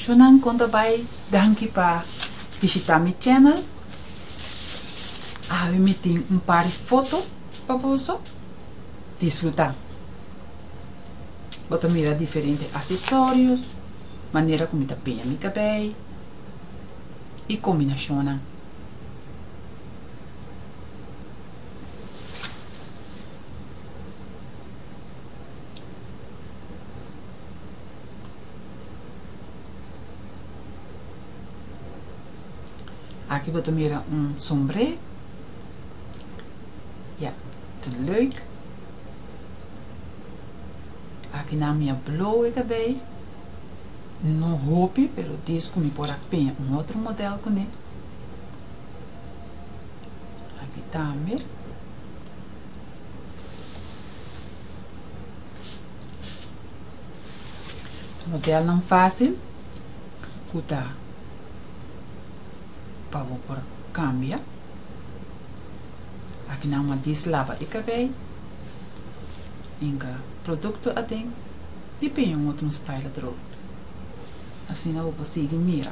Shunan kon ta bai danki pa bishita mi channel awe mi tin un par di foto pa boso disfruta bo ta mira diferente asesorios manera ku mi ta peña mi kabei i kombinashonnan. Aki bo ta mira un sombré. Ja, te leuk. Aki na mi a blow e kabei. No hopi, pero dis ku mi por a peña un otro modèl kuné. Aki tambe. Modelnan fásil ku ta pa bo por kambia. Aki nan m'a dislaba e kabei. Inka produkto aden i piña un otro style atrobe. Asina bo por sigui mira.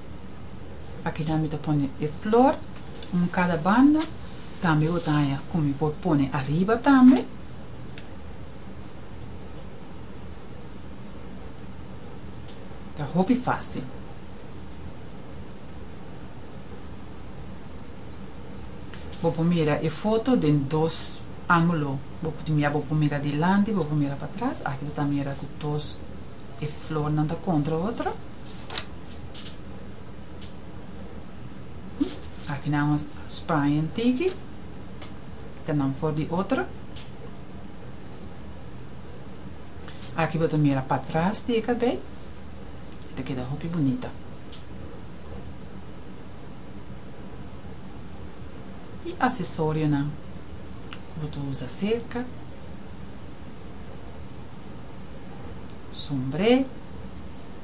Akina mi ta pone e flor un kada banda, tambe bo ta haña ku mi por pone ariba tambe. Ta hopi fásil. Bo por mira e foto den dos ángulo, bo por mira bo por mira dilanti, bo por mira patras, aki bo ta mira ku dos e flornan ta kontra otro. Aki nan a sprayen tiki ta nan for di otro. Aki bo ta mira patras di e kabei i ta keda hopi bunita. E asesorionan ku bo ta usa serka, sombre.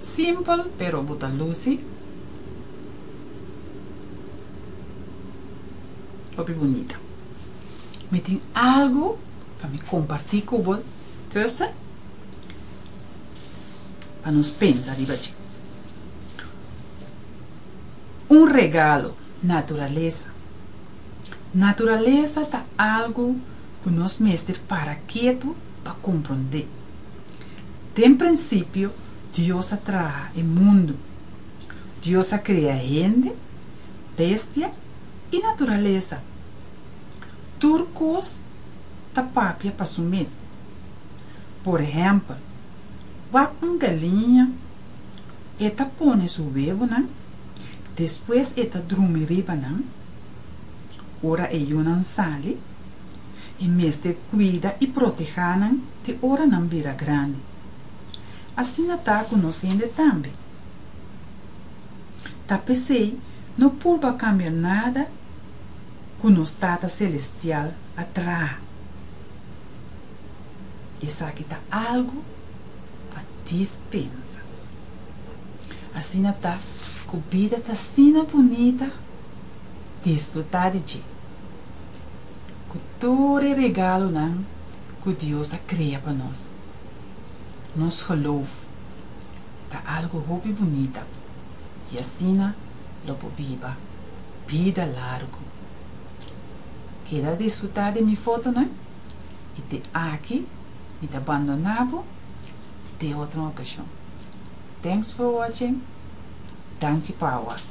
Simpel pero bo ta luci hopi bunita. Mi tin algo pa mi comparti cu bo tussen. pa nos pensa riba dje. Un regalo, naturalesa. Naturalesa ta algu ku nos mester para ketu pa komprondé. Den prinsipio Dios a traha e mundu. Dios a krea hende, bestia i naturalesa. Tur kos ta papia pa su mes. Por ehèmpel, wak un galiña e ta pone su webonan, despues e ta drumi riba nan. Ora e yunan sali, e mester kuida i protehá nan te ora nan bira grandi. Asina ta ku nos hende tambe. Ta p'esei no purba kambia nada ku nos Tata selestial a traha. Esaki ta algu pa dispensa. Asina ta ku bida ta asina bunita disfrutá di dje ku tur e regalunan ku Dios a krea pa nos. Nos gelof ta algu hopi bunita i asina lo por biba bida largu. Keda disfrutá di mi fotonan? i te aki mi ta bandona bo te otro okashon thanks for watching danki pa awak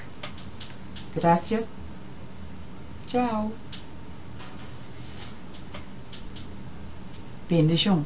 gracias chao bendishon.